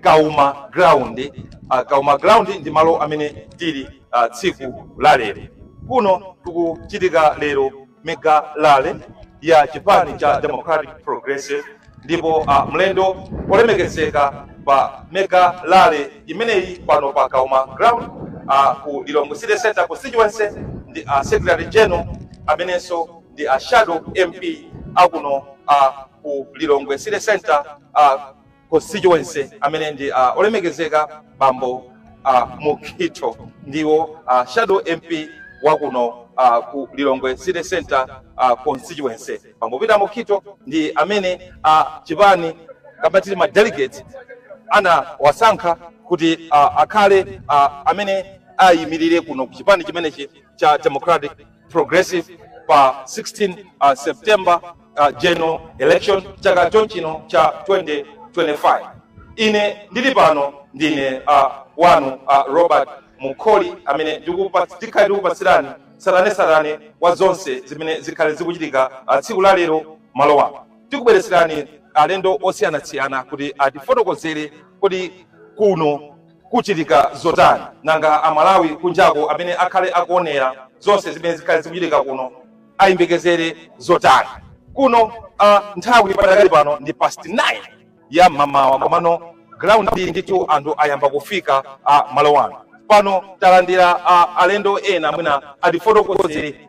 kauma ground uh, kauma ground ndi malo amene tili uh, tsiku la lero kuno tikuchitika lero mega rally ya chipani cha democratic progressive ndipo uh, mlendo olemekezeka pa mega rally imeneyi pano pa kauma ground uh, ku lilongwe city center constituency ndi uh, secretary general amenenso ndi a shadow mp akuno uh, ku lilongwe city center uh, constituency amene ndi uh, olemekezeka bambo uh, mukhitho ndiwo uh, shadow mp wakuno uh, ku lilongwe city center uh, constituency bambo peter mukhitho ndi amene uh, chipani kapena kuti ma delegate anawasankha kuti uh, akhale uh, amene ayimirire kuno ku chipani chimenechi cha Democratic Progressive pa 16 uh, September uh, general election chaka chomwechino cha 2025 ine ndili pano ndine uh, wanu uh, Robert Mukoli amene ndikupatsa- ndikhale ndikupatsirani tsatanetsatane wa zonse zimene zikhale zikuchitika uh, tsiku la lero malo ano tikubweretserani alendo osiyanasiyana kuti atifotokozere kuti kuno Kuchitika zotani nanga a Malawi kunjako amene akhale akuonera zonse zimene zikhale zikuchitika kuno ayembekezere zotani? Kuno a nthawi padakali pano ndi past 9 ya mamawa komano ground ndithu anthu ayamba kufika a malo ano. Pano talandira a alendo ena mwina atifotokozere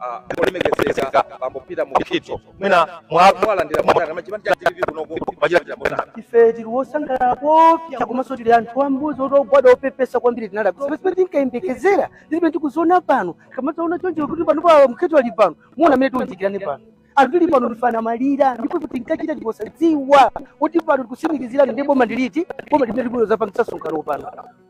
ah, olemekezeka bambo peter mukito mwina mwa- mwalandira motani machipani cha tv kunoko machitira motani ife tiri wosangalala kwambiri komanso tiri anthu ambuzi oti ogwada opepesa kwambiri tinada zimene tinkayembekezera zimene tikuziona pano kamadzaona choncho kuti pano pa mukito ali pano muona mmene tiunjikirane pano anthu tili pano ndifana maliro ndipo kuti tinkachita tiposadziwa kuti pano tikusimikizirani ndi boma ndiliti boma limene tikuloza pa msonkhano pano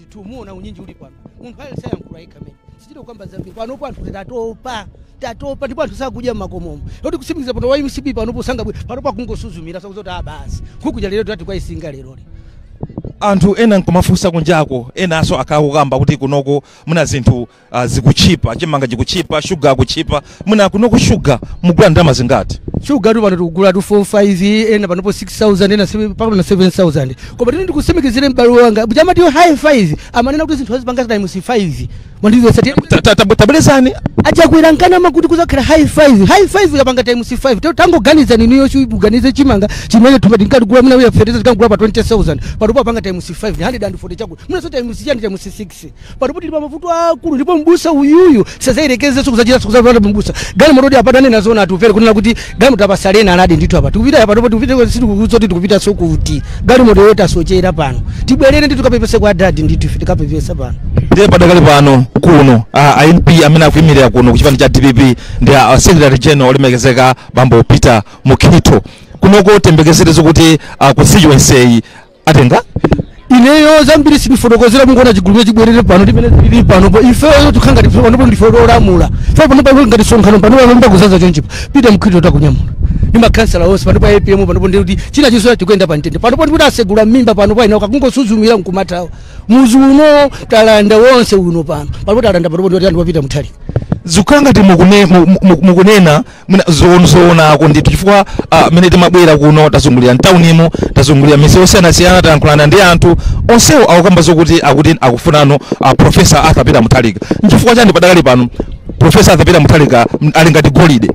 ndithu muona unyinji uli pano munthu aliyense ayankhula yekha mene sichita kukamba zambiri panopo anthu tatopa tatopa ndipo anthu sakudya mmakomomo moti kutsimikiza pano wa mcp panopo sangabwere panopo akungosuzumira sakuza kuti abasi nkhukuja lero tati kwayisinga leroli anthu ena nkumafunsa kunjako enanso akhala kukamba kuti kunoko muna zinthu uh, zikutchipa chimanga chikutchipa shuga akutchipa mwina kunoko shuga mugula ndalama zingati shuga tu pano tikugula tu 45 ena panopo 6000 ena sebe- mpaka pano 7000 koma tini ndikutsimikizire m'bale wanga kuti amati high 5 amanena kuti zinthu azipanga times 5 mwandizesa ti Ta- ta- ta- tabwerezani achakwera ankanama kuti kuzakhala high 5 high 5 yapanga times 5 te tangoganiza niniyo shu muganize chimanga chimene thumba tinkatigula muna uya fertilizer tinkagula pa 20000 panopo apanga times 5 140 chakula munaso times chani times 6 panopo tili pa mavuto akulu ndipo mbusa uyuyu sazayerekezenso kuzachitanso kuzabwera mbusa gani mototi apa tanena zona atupere kunena kuti gani moti apasalena anadi ndithu apa tikupita apa ndipo tikupita sizoti tikupitanso kuti gani moti yoti asochera pano tibwerere ndithu kapepese kwa adadi ndithu ife tikapepesa pano ndiye padakali pano kuno a a mp amene akuyimirira kuno ku chipani cha dpp ndi a secretary general olemekezeka bambo peter mukhito kunoko tiyembekezere zokuti a constituency atenga ineyo zambiri sindifotokozera mungoona chigulu chabwera pano ndimene tili pano po ifeyo tukhala ngati ife panopo ndife olamula ife pano pano ngati sonkhano pano pano mbakuzaza chonchi a peter mukhito takunyamula ndi makhansala onse pano pa apm pano po ndikuti china chinso tikuyenda pa mtendere pano po ndikuti asegula mmimba pano pa ina akungosuzumira nkumathawa muzi uno talanda wonse uno pano pano po talanda pano po ndikuti anthu a peter muthalika zikukhala ngati mukune- mu- mu- mukunena zoon- zoonako ndithu chifukwa ah, mene timabwera kuno tazungulira mtaunimo tazungulira misewu yosiyanasiyana tayankhulana ndi anthu onsewo akukamba zokuti akuti akufunano ah, profesa arthur peter muthalika nchifukwa chani padakali pano profesa arthur peter muthalika m- ali ngati golide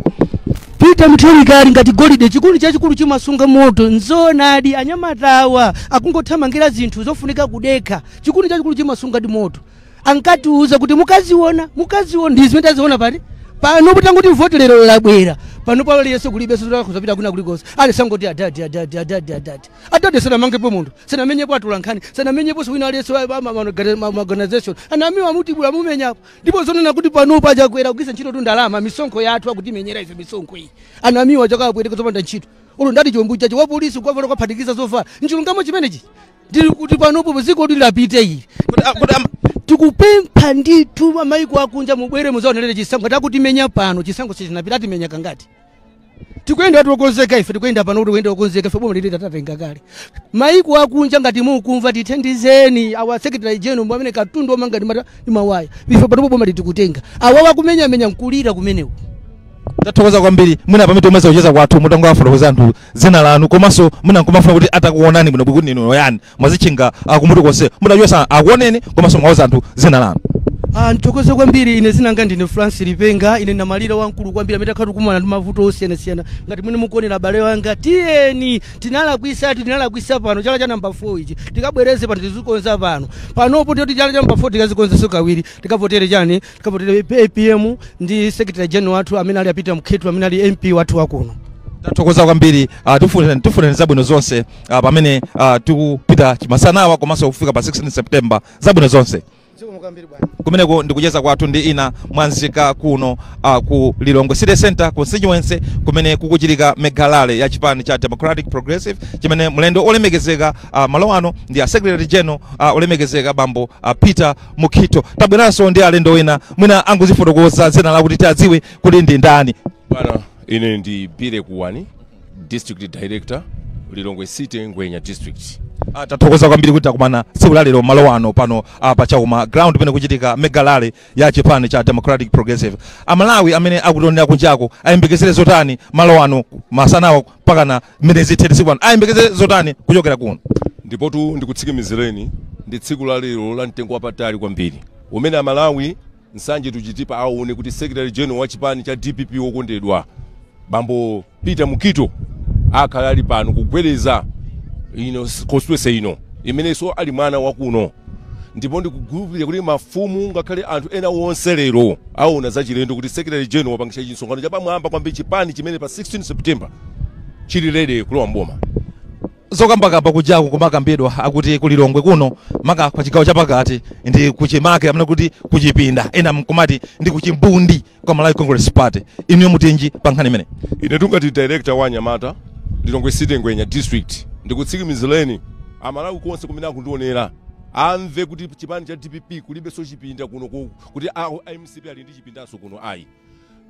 peter muthalika ali ngati golide chikuni chachikulu chimasunga moto nzoonadi anyamatawa akungothamangira zinthu zofunika kudekha chikuni chachikulu chimasungadi moto ankatiuza kuti mukaziona mukaziona ndi zimene taziona pati pano kuti atangoti voti lero labwera pano pano aliyense kulibenso kuzapita kuna kulikonse aliyense angoti adadi adadi adadi adadi adadi sanamangepo munthu sanamenyepo atolankhani sanamenyeponso wina aliyense wa- wa- ma- ma- organi- ma- ma- organization anamiwa mutibudula mumenyapo ndipo zonena kuti pano paja Chakwera kugwiritsa ntchito tu ndalama misonkho yathu akutimenyera ife misonkho iyi anamiwa chakapwetekeza zopanda ntchito ulo ndati chombo chacho wapolisi kwavala kwaphatikiza zovala nchilungamo chimenechi ndili kuti panopo dziko kuti lapite ili Kuti- ah, kuti am- tikupempha ndithu amaiko akunja mubwere muzaonelere chisankho akutimenya pano chisankho sichinapita atimenya kangati tikuyenda tokonzeka ife tikuyenda pano kuti kuyenda tokonzeka ife boma ili tatatenga kale maiko akunja ngati mukumva tithandizeni awa secretary general mwa amene katundu omanga ndi mata- ndi mawaya ife panopo boma ili tikutenga awa akumenyamenya nkulira kumenewo tathokoza kwambiri mwina pamene tomaliza kucheza kwathu mutangowafotokoza anthu dzina lanu komanso mwina nkumafuna kuti atakuonani bwinobwino ndinu oyani mwadzitchinga ah, kumutu konse mutachosa akuoneni komanso mwauza anthu dzina lanu Ah, ndithokoze kwambiri ine dzina langa ndine francis lipenga ine namalira wamkulu kwambiri amene takhala tikumana ndi mavuto osiyanasiyana ngati mmene mukuonera abale wanga tiyeni tinalakwisa tinalakwisa pano chala cha namba 4 ichi tikabwereze pano tizikonza pano panopo ndoti chala cha namba 4 tikazikonzeso kawiri tikavotere chani Tikavotere APM ndi Secretary General wathu amene ali a Peter Mukhito amene ali MP wathu wakuno. tathokoza kwambiri uh, tikufunirani zabwino zonse uh, pamene uh, tikupita chimasanawa komanso kufika pa 16 September zabwino zonse Zikomo kwambiri bwana. kumeneko ndikucheza kwathu ndi ena mwa nzika kuno uh, ku lilongwe city center constituency kumene kukuchitika mega rally ya chipani cha democratic progressive chimene mlendo olemekezeka uh, malo ano ndi a secretary general uh, olemekezeka bambo uh, peter mukhito tabweranso ndi alendo wina mwina angozifotokoza dzina lawo kuti tiadziwe kuti ndi ndani bana ine ndi bire kuwani district director lilongwe city ngwenya district tathokoza kwambiri kuti takumana tsiku la lero malo ano pano pa chauma ground pamene kuchitika mega rally ya chipani cha democratic progressive amalawi amene akutionera kunjako ayembekezere zotani malo ano masanawa mpakana mmene zithere tsiku lano ayembekeze zotani kuchokera kuno ndipotu ndikutsikimizireni ndi tsiku la lero la mtengo wapatali kwambiri umene amalawi m'sanje tionetsa aone kuti secretary general wa chipani cha dpp wokondedwa bambo peter mukhito akhala ali pano kugwedeza ino s- constituency ino imenenso ali mwana wakuno ndipo ndikukhulupirira kuti mafumu ngakhale anthu ena onse lero awona zachilendo kuti secretary general wapangisha chimsonkhano chapamwamba kwambiri chipani chimene pa 16 September chili ready kulowa mboma. zokambakamba kujaku kumakambidwa kuti ku Lilongwe kuno maka pa chigawo chapakati ndi kuchimake amene akuti kuchipinda ena mkumati ndi kuchimbundi kwa Malawi Congress Party inu mutinji pa nkhani imeneyi Ine monga director wa anyamata Lilongwe City Ngwenya district ndikutsikimizireni amalawi konse kumene akundionera amve kuti chipani cha DPP kulibenso chipinda kuno ku kuti a a mcp ali ndi chipindanso kuno ayi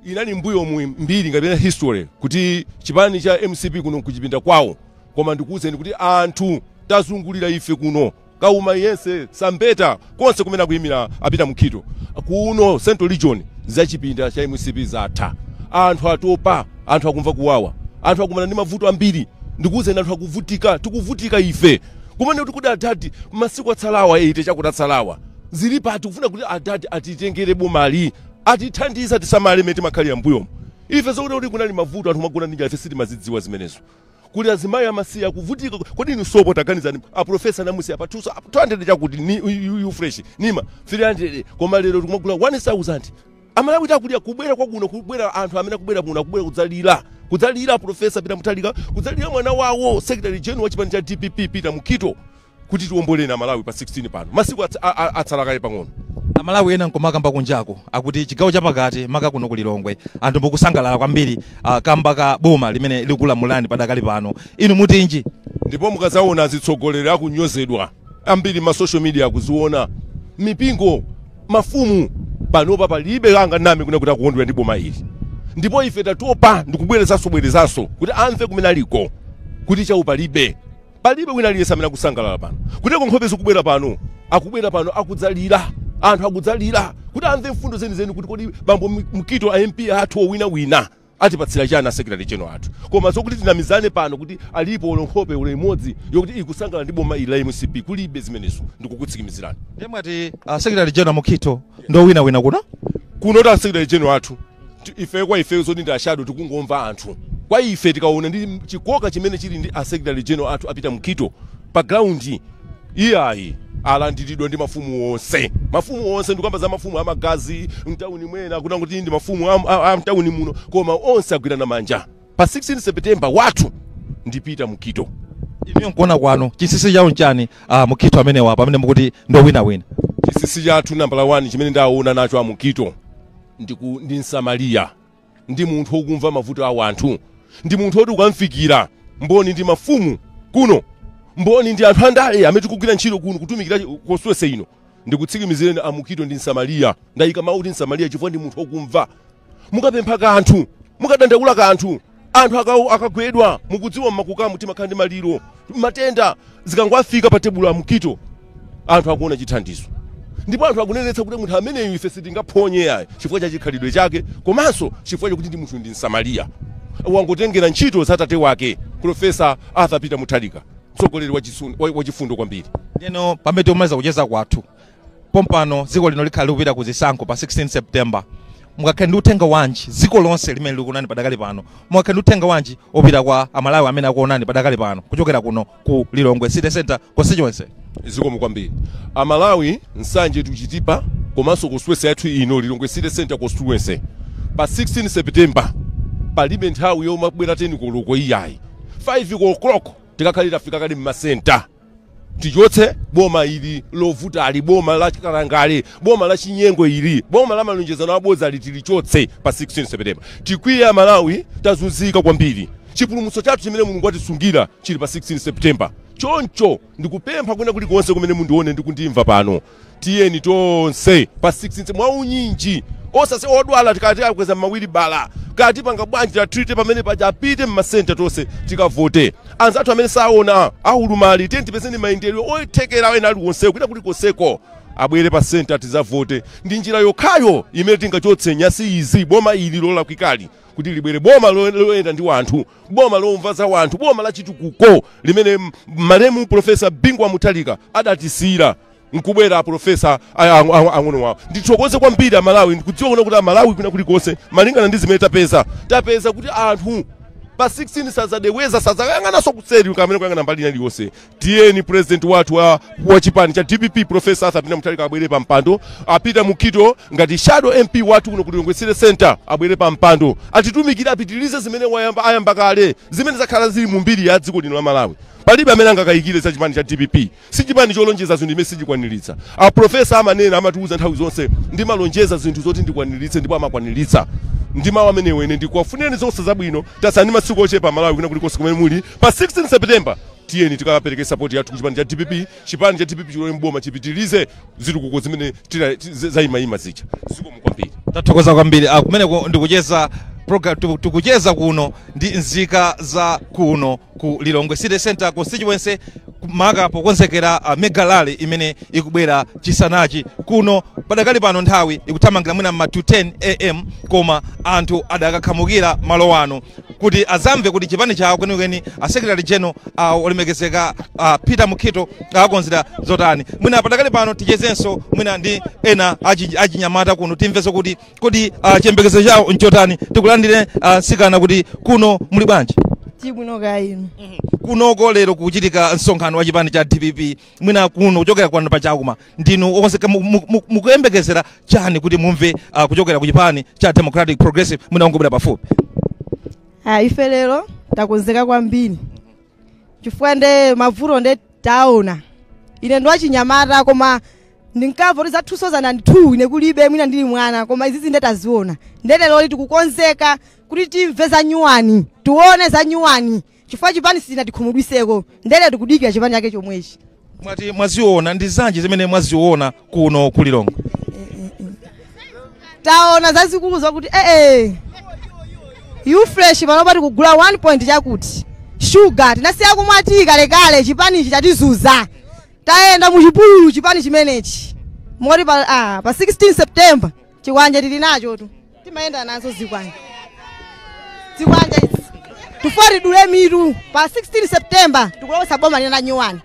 inali mbuyomu mbiri kapena history kuti chipani cha mcp kuno kuchipinda kwawo koma ndikuwuzeni kuti anthu tazungulira ife kuno kauma yense Tsambeta konse kumene akuyimira a Peter Mukhito kuno central region za chipinda cha mcp zatha anthu atopa anthu akumva kuwawa anthu akumana ndi mavuto ambiri ndikuwuzeni anthu akuvutika tikuvutika ife kumene kuti kodi adadi masiku atsalawa 80 chakuti atsalawa zili pati kufuna kuti adadi atitengere bomali atithandize tisamale mmene timakhalira mbuyomo ife zokuti kuti kunali mavuto anthu amagona ndi njala ife sitimazidziwa zimenezo kuli azimayi amasiye akuvutika kodi inu sopo taganizani aprofesa anamusiya pa 200 200 chakuti ni yu- yu yu fresh nima 300 koma lero tikumagula 1000 amalawi akulira kubwera kwakuno kubwera anthu amene akubwera kuno akubwera kudzalira kudzalira profesa peter mutharika kudzalira mwana wawo secretary general wa chipani cha dpp peter mukhito kuti tiwomboleni amalawi pa 16 pano masiku ats- a- a- atsala kaye pang'ono amalawi ena nkomakamba kunjako akuti chigawo chapakati maka kuno kulilongwe anthu mukusangalala kwambiri kamba ka boma limene likulamulani padakali pano inu mutinji ndipo mukadzaona azitsogoleri akunyozedwa ambiri ma social media akuziona mipingo mafumu panopa palibe anganame kunena kuti akukondwera ndi boma ili ndipo ife tatopa ndikubwerezanso bwerezanso kuti amve kumene aliko kuti chau palibe palibe wina aliyense amene akusangalala pano moti nkhope zikubwera pano akubwera pano akudzalira anthu akudzalira kuti amve mfundo zenizeni kuti kodi bambo mukhito a mp athu owinawina Atipatsira chana a secretary general athu koma zokuti tinamizane pano kuti alipo olo nkhope olo imodzi yokuti ikusangalala ndi boma ili la mcp kulibe zimenezo ndikukutsikimizirani. Ndiye mwati a secretary general Mukhito ndi owinawina kuno? Kuno a secretary general athu ti- ife kwa ife zoti ndi ashado tikungomva anthu kwa ife tikaona ndi chikoka chimene chili ndi a secretary general athu a Peter Mukhito pa ground Iyayi, alandiridwa ndi mafumu onse. Mafumu onse, ndikukamba za mafumu a magazi m'tauni mwena, kunena kuti ndi mafumu a, a, a m'tauni muno, koma onse agwirana manja pa 16 September. Wathu ndi Peter Mukhito. Inuyo nkuona kwanu chinsinsi chawo nchani a Mukhito amenewa pamene mukuti ndi owinawina? Chinsinsi chathu nambala 1 chimene ndaona nacho a Mukhito ndi ku- ndi msamariya. ndi munthu wokumva mavuto a wanthu ndi munthu woti ukamfikira mboni ndi mafumu kuno mboni ndi anthu andale amene tikugwira ntchito kuno kutumikira constituency ino ndikutsikimizireni a mukhito ndi msamariya ndayika mawu kuti msamariya chifukwa ndi munthu wokumva mukapempha kanthu mukadandaula kanthu anthu akagwedwa mukudziwa mmakukamu timakhala ndi maliro matenda zikangofika pa tebulo a mukhito anthu akuona chithandizo ndipo anthu akunenetsa kuti munthu ameneyu ife sitingaphonye yayi chifukwa cha chikhalidwe chake komanso chifukwa chakuti ndi munthu ndi msamariya wangotengera ntchito za tate wake profesa arthur peter mutharika mtsogoleri wachisun- wa- wachifundo kwambiri ndeno pamene tikumaliza kucheza kwathu pompano dziko lino likhale likupita ku zisankho pa 16 september mungakhale ndi uthenga wanji dziko lonse limene likuonani padakali pano mungakhale ndi uthenga wanji opita kwa amalawi amene akuonani padakali pano kuchokera kuno ku Lilongwe City Center constituency. zikomo kwambiri amalawi nsanje tuchitipa komanso constituency yathu ino lilongwe city center constituency pa 16 september palibe nthawi yomabwera 10 koloko iyayi 5 o'clock tikakhale tafika kale mmasenta tichotse boma ili lovutali boma la kalangale boma la chinyengo ili boma la malonjezano abodzali tilichotse pa 16 september tikwiye amalawi tazunzika kwambiri Chipulumutso chathu chimene Mulungu atisungira chili pa 16 September. Choncho ndikupempha kwina kulikonse kumene mundione ndi kundimva pano, tiyeni tonse pa 16 mwaunyinji osase odwala tikawakweza mmawiribala kaya tipanga bwanji tiwatrite pamene paja apite mmasenta tonse tikavote anzathu amene saona aulumali tiyeni tiwapezere mayendedwe oti tikere ena aliwonsewo kwina kulikonseko abwere pa senta tizavote ndi njira yokhayo imene tingachotse nyasi izi boma ili lolakwikali kuti libwere boma lo- loyenda ndi wanthu boma lomva za wanthu boma la chitukuko limene m- malemu profesa bingu wa mutharika adatisiyira nkubwera aprofesa ang'ono wawo ndithokoze kwambiri amalawi ndikudziwa kunena kuti amalawi kwina kulikonse malingana ndi zimene tapeza tapeza kuti anthu pa 16 sazacheuka sazayang'ananso kuseri kapena kuyang'ana mbali ina iliyonse tiyeni president wathu wa, wa chipani cha dpp profesa arthur peter mutharika abwere pa mpando a peter mukhito ngati shadow mp wathu kuno ku lilongwe city center abwere pa mpando atitumikire apitirize zimene wayamba ayamba kale zimene zakhala zili mu mbiri ya dziko lino la malawi palibe amene angakayikire za chipani cha dpp si chipani cholonjeza zinthu imene sichikwaniritsa aprofesa amanena amatiwuza nthawi zonse ndimalonjeza zinthu zoti ndikwaniritse ndipo amakwaniritsa ndi mawu amenewo ine ndikuwafunireni zonse zabwino tatsala masiku ochepa malawi kwina kulikonse kumene muli pa 16 september tiyeni tikapeleke sapoti yathu kuchipani cha dpp chipani cha dpp chilowe mboma chipitilize zitukuko zimene tina- zi- zayimayima zija zikomo kwambiri tathokoza kwambiri ah, kumeneko ndikucheza program tuku- tikucheza kuno ndi nzika za kuno ku lilongwe city center constituency maka pokonzekera ah, mega rally imene ikubwera chisanachi kuno padakali pano nthawi ikuthamangira mwina mma 210 am koma anthu adakakhamukira malo ano kuti azamve kuti chipani chawo kwenikweni a secretary general a olemekezeka a peter mukhito awakonzera zotani mwina padakali pano tichezenso mwina ndi ena achi- achinyamata kuno timvenso kuti kodi ah, chiyembekezo chawo nchotani tikulandire ah, nsikana kuti kuno muli bwanji tibwino kaya inu kunoku lero kuchitika msonkhano wa chipani cha dpp mwina kuno kuchokera kwanu pachekuma ndinu okonzeka mu- mu- mu- mukuyembekezera chani kuti mumve ah, kuchokera ku chipani cha democratic progressive mwina ungobwera pafupi Ah, ife lero takonzeka kwambiri chifukwa nde mavuto nde taona ine ndi wachinyamata koma ndinkamva kuti za 2002 ine kulibe mwina ndili mwana koma izizi nde taziona nde lero tikukonzeka kuti timve za nyuwani tione za nyuwani chifukwa chipani sichinatikhumudwiseko nde tikudikira chipani chake chomwechi mwati mwaziona ndi zanji zimene mwaziona kuno ku lilongwe taona zazikulu zokuti u-fresh panopa tikugula 1 point chakuti shuga tinasiya kumwa tiyi kalekale chipanichi chatizuza tayenda muchipululu chipani chimenechi moti pa, ah, pa 16 september chikwanje tili nacho tu timayenda nazo zikwanje zikwanje izi tifuna tidule mitu pa 16 september tikulowesa boma lina la nyuwani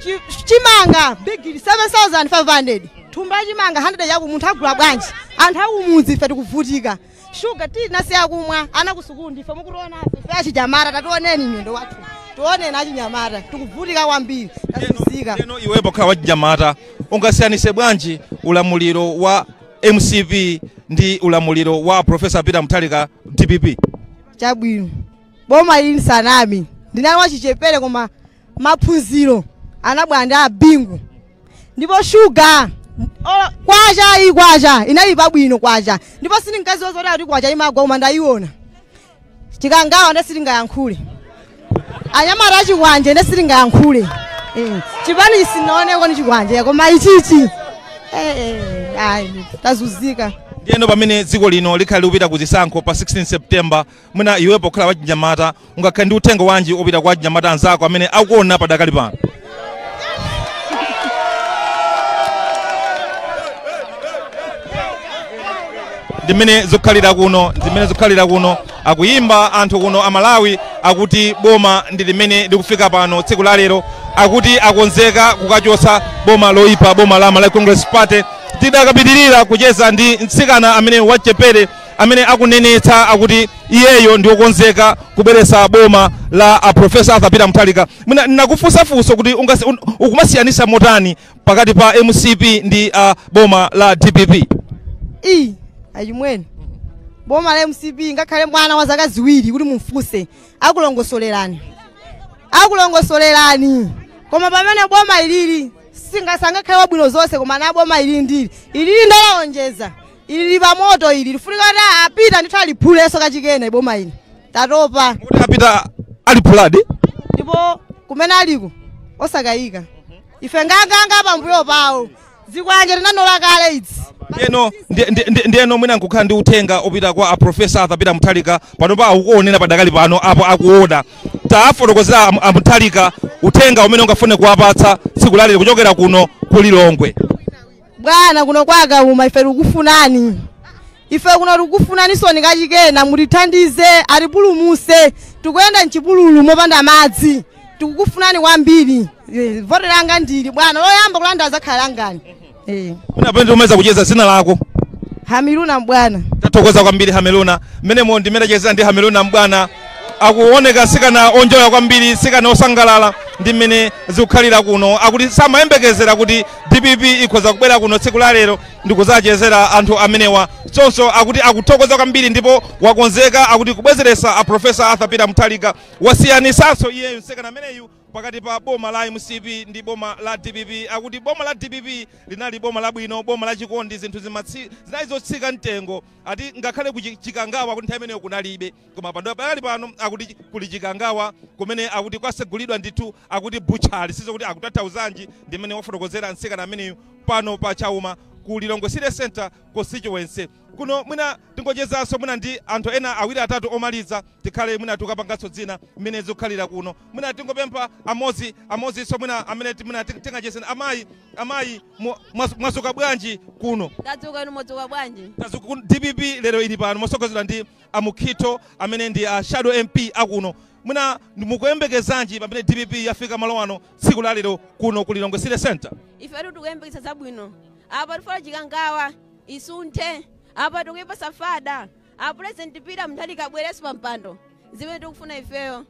Chi- chimanga bigili 7500 thumba chimanga 100 yaku munthu agula bwanji anthu akumudzi ife tikuvutika shuga tinasiya kumwa ana kusukulu ndife mukutiona afe ife achinyamata tationeni nyundo wathu tioneni achinyamata tikuvutika kwambiri tazuzika heno iwe pokhala wachinyamata ungasiyanise bwanji ulamuliro wa mcp ndi ulamuliro wa profesa peter mutharika dpp chabwino boma ili nsanami ndinali wachichepere koma maphunziro anabwera ndi abingu ndipo shuga olo- kwacha iyi kwacha inali pabwino kwacha ndipo sindinkaziwa zoti ati kuti kwacha imagwa koma ndayiona chikangawa nde sitingayankhule anyamata achikwanje nde sitingayankhule Eh, chipani chisinaoneko ni chikwanje koma ichichi eh, eh, ayi tazuzika ndiyeno pamene dziko lino likhale likupita ku chisankho pa 16 september mwina iwe pokhala wachinyamata ungakhale ndi uthenga wanji opita kwa achinyamata anzako amene akuona padakali pano ndimene zikukhalira kuno ndimene zikukhalira kuno akuyimba anthu kuno aMalawi akuti boma ndi limene likufika pano tsiku la lero akuti akonzeka kukachotsa boma loyipa boma la Malawi Congress Party tidakapitiriza kucheza ndi mtsikana amene wachepere amene akunenetsa akuti iyeyo ndiokonzeka kubweretsa boma la a profesa Arthur Peter Mutharika Mwina ndakufunsa funso kuti ungasi- un- ukumasiyanisa motani pakati pa mcp ndi uh, boma la dpp iyi achimwene boma la mcp ngakhale mwana wa zaka ziwiri kuti mumfunse akulongosolerani akulongosolerani koma pamene boma ilili singakhale wabwino zonse koma na boma ilili ndili ilili ndalaonjeza ilili pamoto ili lifunika kuti a Peter ndithu aliphulenso kachikena boma ili tatopa Mukuti a Peter aliphuladi. ndipo kumene aliko osakayika ife nganganga pambuyo pawo zikwanje tinanola kale idzi Ndiyeno ndi- ndi- ndi- ndiyeno mwina nkukhala ndi uthenga opita kwa a professor Arthur Peter Mutharika panopa akuonera padakali pano apo akuona. Tafotokozera am- a Mutharika uthenga umene ungafune kuwapatsa tsiku lalero kuchokera kuno ku Lilongwe. bwana kuno kwa Kauma ife tikufunani Ife kuno tikufunaninsoni kachikena mutithandize atipulumutse tikuyenda mchipululu mopanda madzi tikukufunani kwambiri Eh, vote langa ndili bwana loyamba kulanda lizakhala langa Eh, Mwina pamene tikumaliza kucheza dzina lako. Hamiluna Mbwana Tathokoza kwambiri Hamiluna. Mmenemo ndi mmene tachezera ndi Hamiluna Mbwana. Akuoneka mtsikana onjoya kwambiri, mtsikana osangalala ndi mmene zikukhalira kuno. Akuti samayembekezera kuti DPP ikhoza kubwera kuno tsiku la lero ndikudzachezera anthu amenewa choncho akuti akuthokoza kwambiri ndipo wakonzeka akuti kubwezeretsa a profesa Arthur Peter Mutharika wasiyanitsanso iyeyo mtsikana ameneyu pakati pa boma la mcp ndi boma la dpp akuti boma la dpp linali boma labwino boma la chikondi zinthu zimatsi- zinali zotsika mtengo ati ngakhale ku Chikangawa akuti nthawi imeneyo kunalibe koma padakali pano akuti kuli chikangawa kumene akuti kwasegulidwa ndithu akuti butchery sindidziwa kuti akutanthauzanji ndimene wafotokozera mtsikana ameneyu pano pa Kauma ku lilongwe city center constituency kuno mwina tingochezanso mwina ndi anthu ena awiri atatu omaliza tikhale mwina tikupanganso zina mmene zikukhalira kuno mwina tingopempha amodzi amodzinso mwina amene ti- mwina ting- tingachezeni amayi amayi mu- mwazu- mwazuka bwanji kuno tadzuka inu mwadzuka bwanji Tazuku- dpp lero ili pano motsogozedwa ndi a Mukhitho amene ndi a shadow MP a kuno, mwina ndi- mukuyembekezanji pamene dpp yafika malo ano tsiku la lero kuno ku Lilongwe City Centre? ifetu tikuyembekeza zabwino apa tifuna chikangawa isunthe apa tikuyipasa fada a president Peter Mutharika abwerenso pa mpando zimene tikufuna ifeyo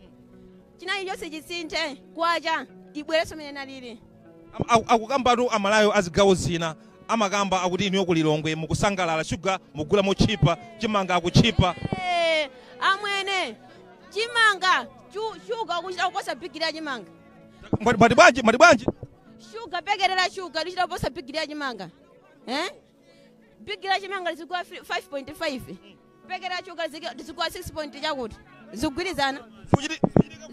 china chilichonse chisinthe kwacha ibwerenso mmene inalili Akukambatu amalawi azigawo zina amakamba akuti inuyo ku Lilongwe mukusangalala sugar mugula motchipa, chimanga akutchipa. Eeeh amwene chimanga shu- sugar akuchita kuposa bigili ya chimanga. Mwati bwanji mwati bwanji? Sugar paketi la sugar lichita kuposa bigili ya chimanga eeh. bigili la chimanga lizigwa 5.5 paketi la shuga ziki- zigwa 6. chakuti sizikugwirizana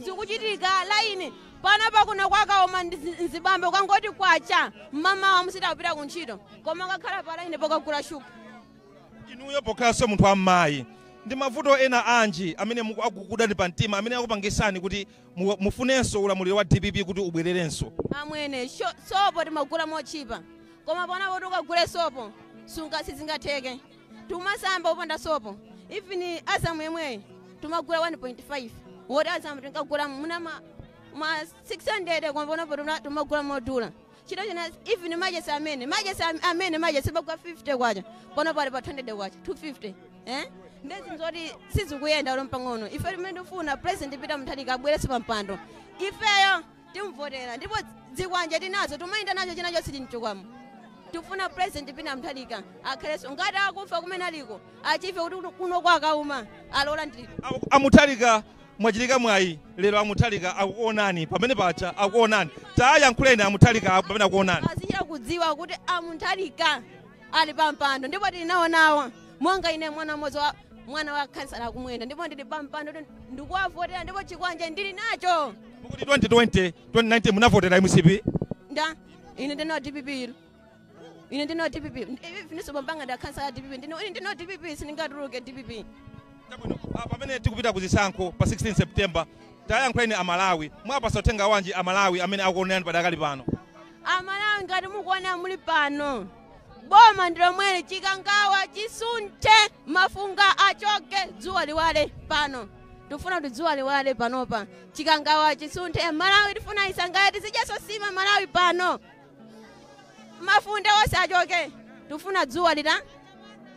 zikuchitika laini panopa kuno kwa Kauma ndi zi- nzibambe kwangoti kwacha mmamawa asiya kupita ku ntchito koma kukakhala pa laini pokagula shuga inuyo pokhalanso munthu wammayi ndi mavuto ena anji amene muku- akukudani pa mtima amene akupangisani kuti mu, mufunenso ulamuliro wa dpp kuti ubwererenso amwene sho- sopo timagula motchipa koma panopa oti ukagule sopo sunga sizingatheke tumasamba opanda sopo even azamu yemweyi tumagula 1.5 woti azamu tinkagula muna ma, ma 600 koma panopatu tumagula modula China chake even machesi amene machesi am- amene machesi amagwa 50 kwacha panopa ali pa 200 kwacha 250 eh nde zinthu zoti sizikuyenda olo mpang'ono ife amene tifuna president Peter Mutharika abwerenso pa mpando ifeyo timvotera ndipo zikwanje tinazo tumayenda nacho chinacho sitinchokamo tifuna president Peter Mutharika akhalenso ngati akufa kumene aliko achife kuti kuno kwa Kauma olowa ndi a Mutharika Mwachitika mwayi lero a Mutharika akuonani pamene paja akuonani tayankhuleni a Mutharika apo pamene akuonani. azichita kudziwa kuti a Mutharika ali pampando ndipo tili nawo nawo monga ine mwana mmodzi wa mwana wa khansala a Kumwenda ndipo ndili pampando kuti ndikuwavotera ndipo chikwanje ndili nacho Mukuti 2020 2019 munavotera mcp nde ine ndine wa dpp ine ndine wa dpp even so bambo anga ndi akhansala a dpp ndine ine ndine wa dpp sindingatuluke dpp Chabwino, ah, pamene tikupita ku zisankho pa 16 september tayankhuleni amalawi mwapasa uthenga wanji amalawi amene akuonerani padakali pano amalawi ngati mukuona muliponso boma ndilomweli chikangawa chisunthe mafunga achoke dzuwa liwale pano tifuna kuti dzuwa liwale panopa chikangawa chisunthe malawi tifuna isangalale tizidyanso nsima malawi pano mafunde onse achoke tifuna dzuwa li-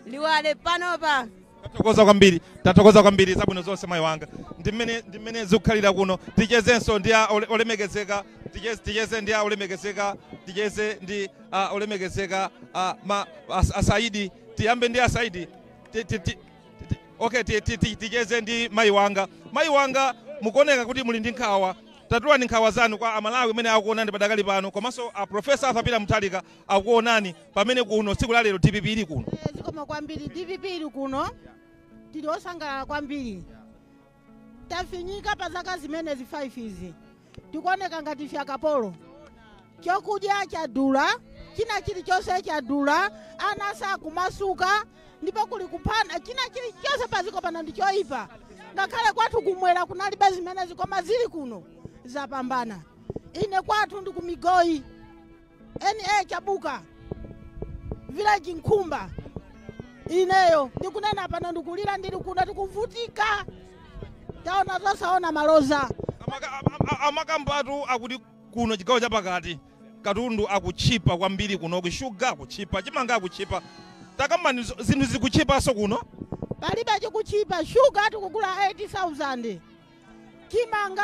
liwale panopa tathokoza kwambiri tathokoza kwambiri zabwino zonse mayi wanga ndi mmene ndi mmene zikukhalira kuno tichezenso ndi a ole- olemekezeka ticheze, ticheze ndi a olemekezeka ticheze ndi a olemekezeka a, ma, a, a saidi tiyambe ndi a saidi Ti- ti- ti- okay ticheze ndi mayi wanga mayi wanga mukuoneka kuti muli ndi nkhawa tatulani nkhawa zanu kwa amalawi amene akuonani padakali pano komanso a profesa arthur peter mutharika akuonani pamene kuno tsiku la lero dpp ili kuno Eh, zikomo kwambiri dpp ili kuno tili osangalala kwambiri Tafinyika pa zaka zimenezi 5 izi tikuoneka ngati ife akapolo. Chokudya chadula, china chilichonse chadula, ana sakumasuka ndipo kuli kuphana, china chilichonse paziko pano ndi choipa. Ngakhale kwathu kumwera kunalibe zimenezi koma zili kuno zapambana. Ine kwathu ndi kumigoyi. TA chabuka village nkhumba ineyo ndikunena pano ndikulira ndili kuno tikuvutika taona zosaona maloza Amakambatu akuti kuno chigawo chapakati katundu akutchipa kwambiri kunoku shuga akutchipa chimanga akutchipa takambani zinthu zikutchipanso kuno palibe chikutchipa shuga tikugula 8000 chimanga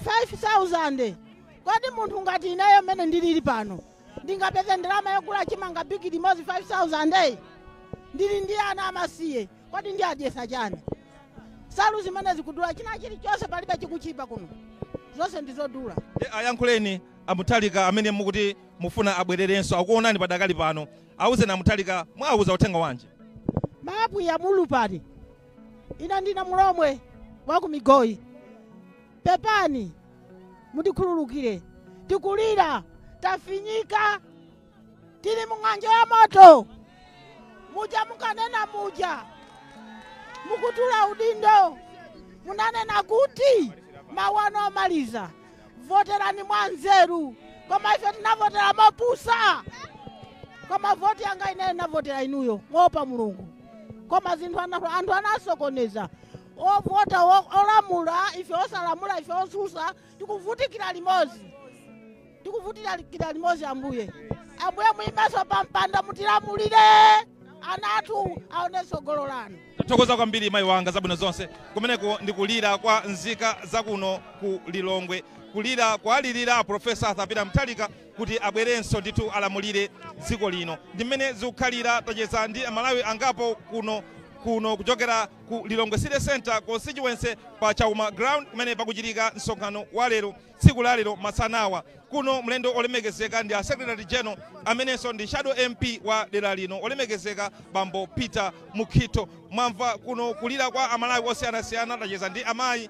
5000 kodi munthu ngati ineyo mmene ndilili pano ndingapeze ndalama yogula chimanga bigili imodzi 5000 ndili ndi ana amasiye kodi ndiwadyetsa chani nsalu zimene zikudula china chilichonse palibe chikutchipa kuno zonse ndizodula Ayankhuleni a Mutharika amene mukuti mufuna abwererenso akuonani padakali pano awuzeni a Mutharika muwauza uthenga wanji maapwiya mulupale ine ndine mulomwe wa ku migoyi pepani mutikhululukire tikulira tafinyika tili mung'anjo ya moto muja mukanena muja mukutula udindo munanena kuti mawa ndi maliza voterani mwa nzeru koma ife tinavota mopusa koma voti yanga ineyo ndinavotera inuyo moopa mulungu koma zinthu ana- anthu anasokoneza ovota o- olamula ife osalamula ife otsutsa tikuvutikira limodzi tikuvutikira limodzi ambuye ambuye muyimenso pa mpando mutilamulire ana athu aone tsogolo lanu tathokoza kwambiri mayi wanga zabwino zonse kumeneko ndi kulira kwa nzika zakuno ku lilongwe kulira kuwalirira profesa arthur peter mutharika kuti abwerenso ndithu alamulire dziko lino. Ndi mmene zikukhalira, tacheza ndi Amalawi angapo kuno kuchokera ku Lilongwe City Centre Constituency pa Chauma Ground kumene pakuchitika msonkhano wa lero tsiku la lero masanawa. Kuno mlendo olemekezeka ndi a Secretary General amenenso ndi Shadow MP wa dera lino olemekezeka Bambo Peter Mukhito. Mwamva kuno kulira kwa Amalawi osiyanasiyana, tacheza ndi amayi,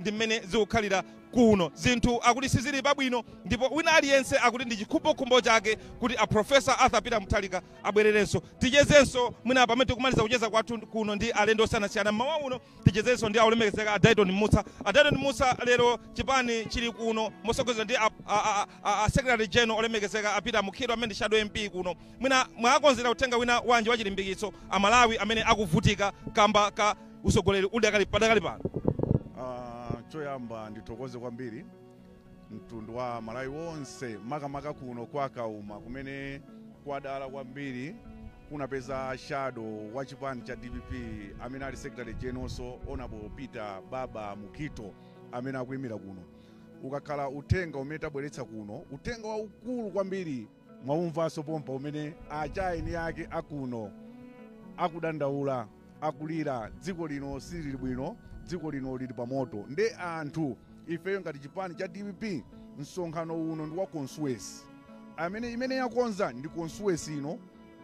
Ndi mmene zikukhalira kuno. Zinthu akuti sizili pabwino ndipo wina aliyense akuti ndi chikhumbokhumbo chake kuti a Prof. Arthur Peter Mutharika abwererenso. Tichezenso mwina pamene tikumaliza kucheza kwathu kuno ndi alendo osiyanasiyana mmawa uno. Tichezenso ndi a Olemekezeka a Dyton Mussa. A Dyton Mussa, lero chipani chili kuno motsogozedwa ndi a Secretary General olemekezeka a Peter Mukhito amene ndi Shadow MP kuno. Mwina mwawakonzera uthenga wina wanji wachilimbikitso Amalawi amene akuvutika kamba ka. usogoleri uli padakali pano? Uh, choyamba ndithokoze kwambiri mtundu wa Malawi wonse makamaka kuno kwa Kauma kumene kwadala kwambiri kunapeza shadow wa chipani cha DPP amene ali secretary generalnso honorable Peter Baba Mukhito amene akuyimira kuno ukakhala uthenga umene tabweretsa kuno uthenga waukulu kwambiri mwaumvanso pompa umene achaeni yake akuno akudandaula akulira dziko lino silili bwino dziko lino lili pamoto nde anthu ifeyo ngati chipani cha dpp msonkhano uno ndi wa konsuwesi amene imene yakonza ndi konsuwesi ino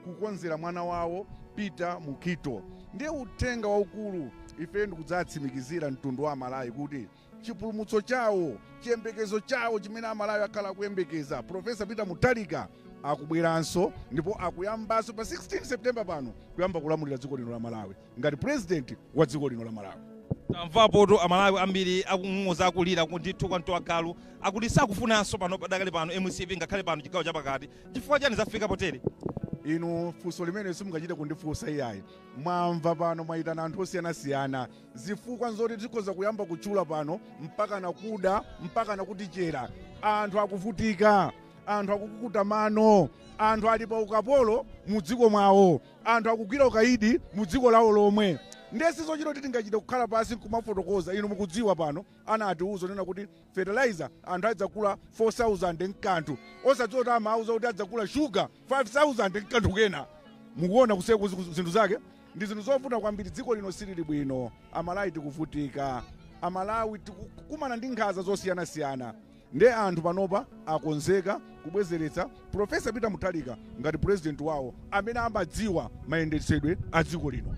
kukonzera mwana wawo peter mukhito ndiye uthenga waukulu ifeyo ndikudzatsimikizira mtundu wa amalawi kuti chipulumutso chawo, chiyembekezo chawo chimene Amalawi akhala akuyembekeza. Professor Peter Mutharika akubweranso ndipo akuyambanso pa 16 September pano kuyamba kulamulira dziko lino la Malawi ngati president wa dziko lino la Malawi. tamvapotu amalawi ambiri akung'ung'uza akulira ndithu kwa mtu wa galu akuti sakufunanso pano padakali pano mcp ngakhale pano chigawo chapakati chifukwa chani zafika potere inu funso limene simungachite kundifunsa iyayi mwamva pano mwayitana anthu osiyanasiyana Zifukwa nzoti tikhoza kuyamba kutchula pano mpakana kuda mpakana kutichera. Anthu akuvutika, anthu akukukuta mano, anthu ali pa ukapolo mu dziko mwawo, anthu akugwira ukaidi mu dziko lawo lomwe. Ndiye sizochita kuti tingachite kukhala pansi nkumafotokoza. Inu mukudziwa pano anatiuza kunena kuti fertilizer anthu adzagula 4,000 nkanthu, osadziwa kuti amauza kuti adzagula sugar 5,000 nkanthu kena. Mukuona kusiyana kwa zinthu zake? Ndi zinthu zovuta kwambiri dziko lino silili bwino amalawi tikuvutika amalawi tikukumana ndi nkhanza zosiyanasiyana nde anthu panopa akonzeka kubwezeretsa professor peter mutharika ngati president wawo amene amadziwa mayendetsedwe a dziko lino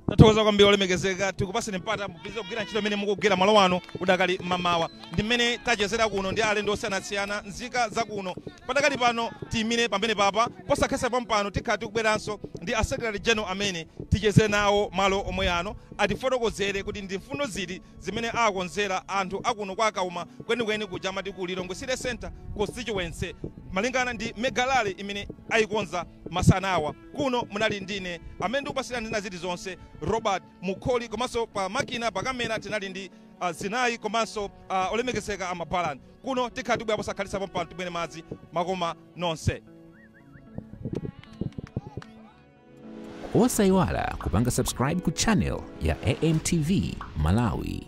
tathokoza kwambiri olemekezeka tikupaseni mpata mupitirize kugwira ntchito imene mukugwira malo ano udakali mamawa ndi mmene tachezera kuno ndi alendo osiyanasiyana nzika za kuno Padakali pano tiyimire pamenepapa posakhalitsa pompano tikhala tikubweranso ndi a Secretary General amene ticheze nawo malo omwe ano atifotokozere kuti ndi mfundo ziti zimene awakonzera anthu akuno kwa Kauma kwenikweni kuja amati ku Lilongwe City Centre Constituency malingana ndi Mega Rally imene ayikonza masanawa. Kuno munali ndine amene ndikupatsirani zina zili zonse Robert Mukholi komanso pa makina pa camera tinali ndi Zinayi komanso a Olemekezeka a Mabalan. Kuno tikhala tibwerapo posakhalitsa pompano timwere madzi makoma nonse. Osaiwala kupanga subscribe ku channel ya AMTV Malawi.